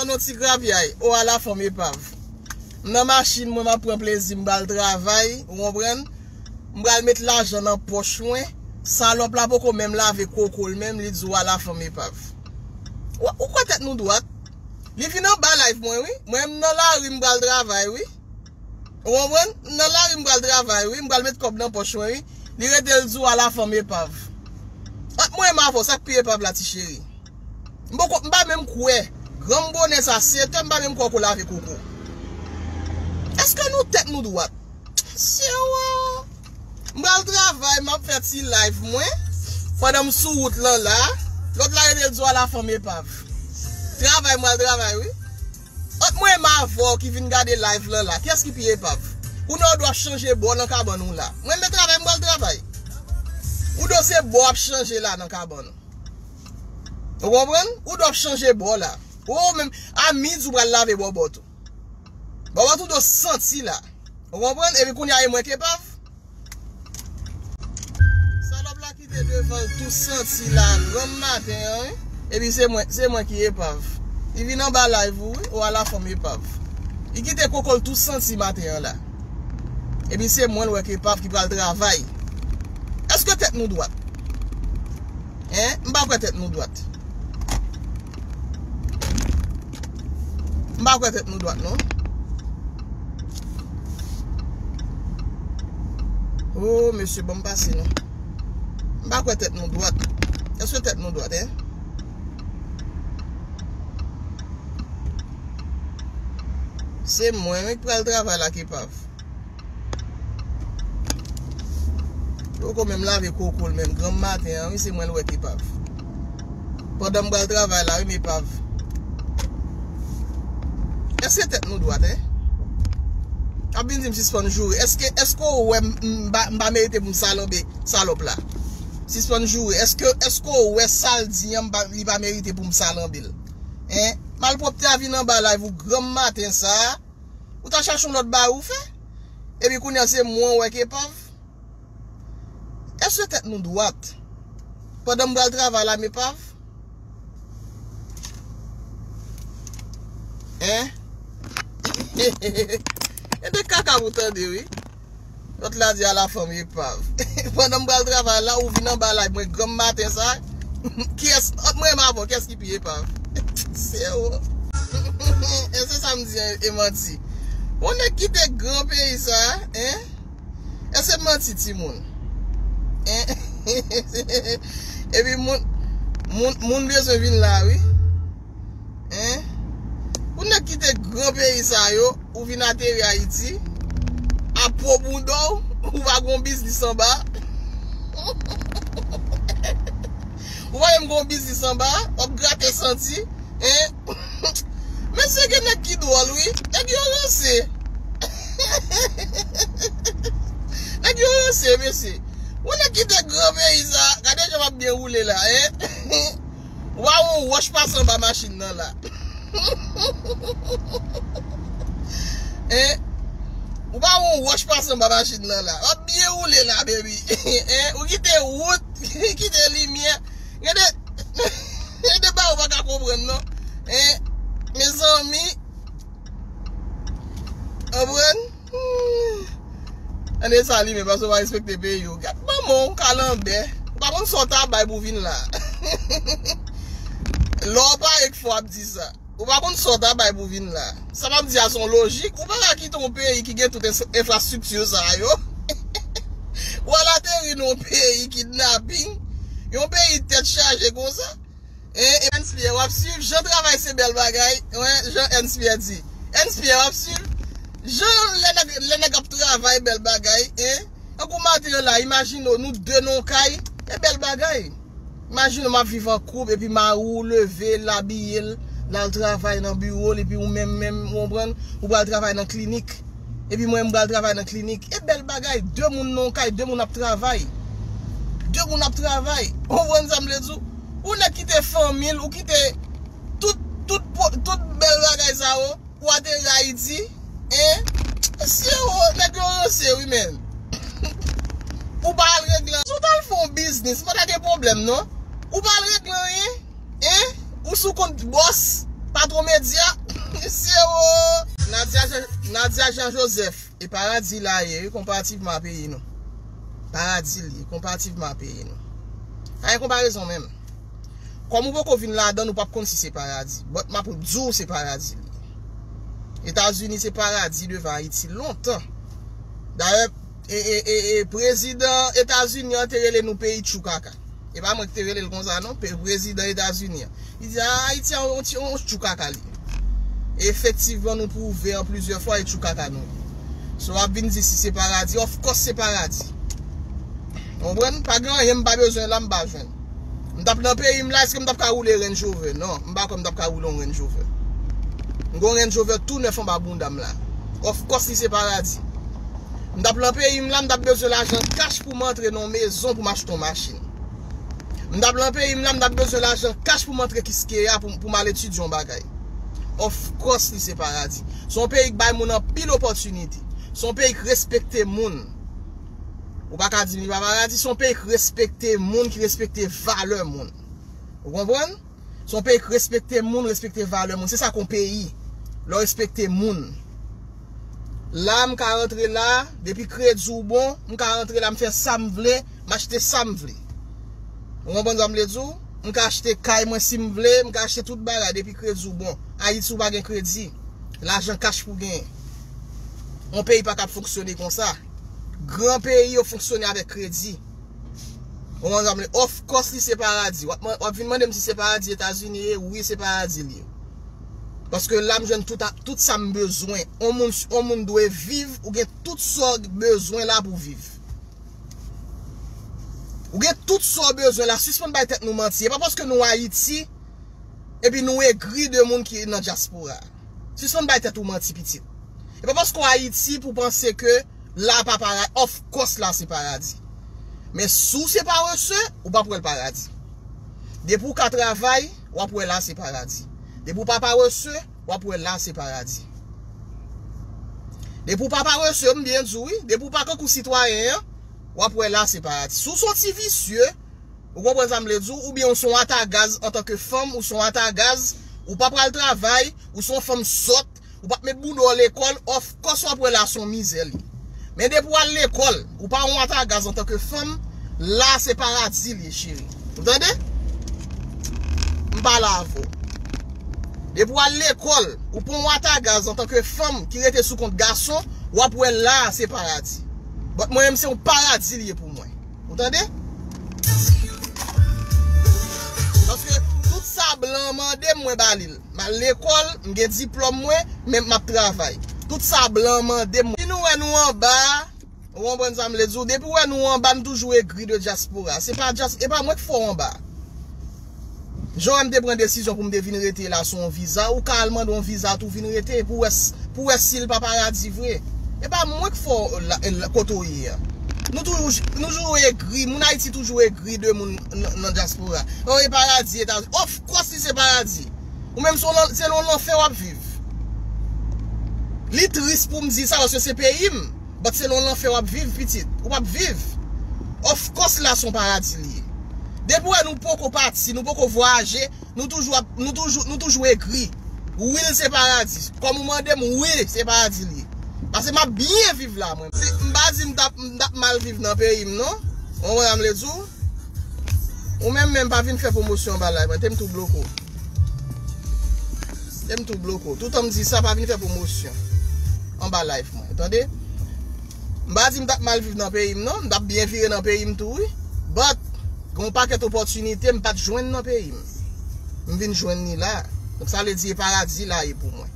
Nan yon ti grapyay, o ala fanm epav. M nan machin mwen m ap pran plezi m pral travay, ou konprann. M pral met lajan nan pòch mwen, salòp la poko menm lave koko l menm li di w ala fanm epav. Ou kwè tèt nou dwat? Li vin anba live mwen wi, mwen m nan lari m pral travay wi. Ou konprann? M nan lari m pral travay wi, m pral met kòb nan pòch mwen wi. Li rete l di w ala fanm epav. Ant mwen m avè w, sa k pi epav la ti cheri? M poko, m pa menm kwè. Granm bonè sa, Syeto, m pa menm kwè w ko lave koko. Eske nou tèt nou dwat? Syewa! M pral travay, m ap fè ti live mwen, pandan m sou wout lan la. Lòt la rete l di w ala fanm epav. Travay m pral travay wi. Ant mwen e m avè w ki vin gade live lan la, kiyès ki pi epav? Kounye a w do ap chanje bò nan kabann ou la. Mwen renmen travay m pral travay. Ou do se bò w ap chanje la nan kabann ou. Ou konprann? Ou do ap chanje bò la. Ou menm a midi ou pral lave bòbòt ou. Bòbòt ou do santi la. Ou konprann? Epi kounye a e mwen k epav? Salòp la kite devan l tou santi la granm maten an wi Epi se mwen se mwen ki epav Li vin anba live ou wi O a la fanm epav Li kite koko l tou santi maten an la Epi se mwen l wè k epav ki pral travay Èske tèt nou dwat Hein M pa kwè tèt nou dwat. M pa kwè tèt nou dwat non. Ooh mesye banm pase non. M pa kwè tèt nou dwat. Eske tèt nou dwat eh. Se mwen wi k pral travay la k epav. Li poko menm lave koko l menm granm maten an wi se mwen l wè t epav pandan m pral travay la wi m epav èske tèt nou dwat hein ap vin di m sispann joure èske èske ou wè m m pa merite pou m salanbe salòp la sispann joure èske èske ou wè sa l di an li pa merite pou m salanbe l hein malpwòpte a vin anba live ou granm maten sa Ou ta chache yon lòt bagay ou fè? Epi kounye a se mwen ou wè ki epav? Èske tèt nou dwat? Pandan m pral travay la m epav? Hein? He he he he he. E de kaka pou tande wi. Lòt la di ala fanm epav. Pandan m pral travay la ou vin anba lay mwen granm maten sa kiyès ant mwen menm avèw kiyès ki pi epav seum. E se sa m di an e manti. Yon nèg kite gran peyi sa hein e se manti timoun hein epi moun moun bezwen vin la wi. Pou nèg ki te gran peyi sa yo, ou vin ateri Ayiti, ap pwo bouda w, ou va gen yon biznis anba. Ou va menm gen yon biznis anba, w ap grate santi. Mesye gen nèg ki dwòl wi, nèg yo ranse. Nèg yo ranse mesye. Pou nèg ki te gran peyi sa, gade jan m ap byen woule la. Waww on wòch pase anba machin nan la Ou pa wè on wòch pase anba machin nan la Wap byen woule la baby Ou kite wout kite limyè Gen de Gen de bagay ou pa ka konprann non Mezanmi Anprann Humm An desalime paske ou pa respekte peyi ou Gad manman w kalanbè Ou pa konn sa w ta bay pou w vin la Lè w pare k fè w ap di sa Ou pa konn sa w ta bay pou w vin la Sa m ap di a se yon lojik Ou pa ka kite yon peyi ki gen tout enfrastrikti sa yo Pou w al ateri nan yon peyi kidnaping Yon peyi tèt chaje konsa Eh Ernst Pierre wap swiv jan travay se bèl bagay wen jan Ernst Pierre di Ernst Pierre wap swiv jan lè nèg ap travay bèl bagay eh tankou maten yo la imajine w nou 2 nan yon kay e bèl bagay imajine w map viv an koup epi mari w leve l abiye l lal travay nan biwo l epi ou menm menm ou konprann ou pral travay nan klinik. Epi mwen m pral travay nan klinik. E bèl bagay, 2 moun nan yon kay, 2 moun ap travay. 2 moun ap travay. Ou konprann sa m vle di w? Yon nèg kite fanmi l, ou kite tout, tout, tout bèl bagay sa yo pou ateri Ayiti. Hein? Mesye o, nèg yo ranse wi men. Ou pa al regle. Si w t al fè yon biznis, pa ta gen pwoblèm non. Ou pa al regle anyen. Hein ou sou kont boss patron media mesye oo. Nadia Jean Joseph e paradi la ye wi konparativman a peyi nou paradi li ye konparativman a peyi nou pa gen konparezon menm kòm ou poko vin ladann ou pap konn si se paradi but map diw se paradi li ye etazini se paradi devan ayiti lontan dayè prezidan etazini an te rele nou peyi tchou kaka. E pa mwen ki te rele l konsa non, prezidan Etazini an. Li di, aa, Ayiti a on ti, on tchou kaka li ye. E efektivman nou pwouve an plizyè fwa e tchou kaka nou ye. So ap vin di si se paradi, of kos se paradi. Ou konprann? Pa gen anyen m pa bezwen la m pa jwenn. M t ap nan peyi m la, èske m t ap ka woule Range Rover? Non, m pa kwè m t ap ka woule yon Range Rover. M gen yon Range Rover tou nèf anba bounda m la. Of kos li se paradi. M t ap nan peyi m la, m t ap bezwen lajan kach. poum antre nan yon mezon poum achte yon machin. M tap lan peyim la m tap bezwen lajan kach poum antre kiskeya poum al etidye yon bagay. Of course li se paradi. Se yon peyi k bay moun anpil opòtinite. Se yon peyi k respekte moun. Ou pa ka dim li pa paradi. Se yon peyi k respekte moun, ki respekte valè moun. Ou konprann? Se yon peyi k respekte moun, respekte valè moun. Se sa k yon peyi. Lè w respekte moun. La m ka rantre la, depi kredi w bon, m ka rantre la m fè sa m vle, m achte sa m vle. Ou konprann sa m vle di w? M ka achte kay mwen si m vle, m ka achte tout bagay depi kredi w bon. Ayiti ou pa gen kredi. Lajan kach pou w genyen. Yon peyi pa kab fonksyone konsa. Gran peyi yo fonksyone avèk kredi. Ou konprann sa m vle di? Of course li se paradi. W ap vin mande m si se paradi Etazini ye? Wi se paradi l ye. Paske la m jwenn tout sa m bezwen. On moun dwe viv, ou gen tout sa w bezwen la pou w viv. Ou gen tout sa w bezwen la. Sispann bay tèt nou manti. E pa paske nou Ayiti epi nou egri de moun ki nan dyaspora. Sispann bay tèt ou manti pitit. E pa paske w Ayiti pou w panse ke la pa para, of course la se paradi. Men si w se parese, ou pap wè l paradi. Depi w ka travay, w ap wè la se paradi. Depi w pa parese, w ap wè la se paradi. Depi w pa parese, m byen di w wi, depi w pa kankou sitwayen an, w ap wè la se paradi. Si w se yon ti visye, Ou konprann sa m vle di w? Oubyen ou se yon ata gaz antanke fanm, ou se yon ata gaz, ou pa pral travay, ou se yon fanm sòt, ou pa p met bouda w lekòl, of kòs w ap wè la a se yon mizè li ye. Men depi w al lekòl, ou pa yon ata gaz antanke fanm, la a se paradi li ye cheri. Ou tande? M pale avè w. Depi w al lekòl, ou pa yon ata gaz antanke fanm ki rete sou kont gason, w ap wè la a se paradi. But mwen menm se yon paradi li ye pou mwen. Ou tande? Paske tout sa blan an mande m mwen ba li l. M al lekòl, m gen diplòm mwen, men m ap travay. Tout sa blan an mande m mwen. Depi nou wè nou anba a, ou konprann sa m vle di w, depi ou wè nou anba nou toujou egri de dyaspora. Se pa dyaspora, e pa mwen k fè w anba. Joe m te pran desizyon pou m te vin rete la sou yon viza, ou ka al mande yon viza tou vin rete pou wè pou wè si l pa paradi vre. E pa mwen k fè w kote w ye an. Nou toujou egri, moun Ayiti toujou egri de moun nan dyaspora. Oh e paradi Etazini. Of kòs li se paradi. Ou menm se nan yon lanfè w ap viv. Li tris pou m di sa paske se peyi m. But se nan lanfè wap viv pitit. Ou pap viv. Of course la son paradi li ye. Depi ou wè nou poko pati, nou poko vwayaje, nou toujou ap, nou toujou, nou toujou egri. Wi l se paradi. Kòm ou mande m, wi se paradi li ye. Pase map byen viv la mwen. M pa di m tap, m tap mal viv nan peyi m non. Ou konprann sa m vle di w? Ou menm menm pa vin fè pwomosyon anba live mwen tem tou bloke w Tem tou bloke w Toutan m di sa pa vin fè pwomosyon anba live mwen tande M pa di m tap mal viv nan peyi m non M tap byen vire nan peyi m tou wi But gen yon pakèt opòtinite m pat jwenn nan peyi m M vin jwenn li la Donk sa vle di e paradi la ye pou mwen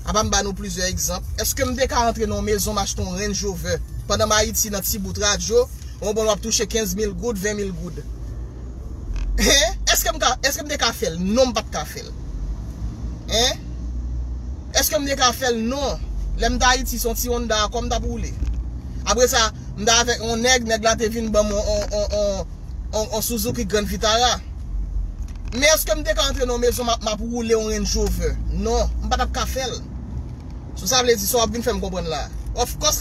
Apa m ba nou plizyè egzanp Eske m te ka antre nan yon mezon m achte yon Range Rover pandan m Ayiti nan ti bout radyo Ou bon wap touche 15 mil goud, 20 mil goud. Hein? Eske m ka, eske m te ka fè l? Non m pat ka fè l. Hein? Eske m te ka fè l? Non. Lè m t Ayiti se yon ti Honda a kò m tap woule. Apre sa, m t avèk yon nèg, nèg la te vin ban m yon, yon, yon, yon Suzuki Grand Vitara. Men eske m te ka antre nan yon mezon map, map woule yon Range Rover? Non. M pa tap ka fè l. So sa vle di, sa wap vin fè m konprann la a? Of course!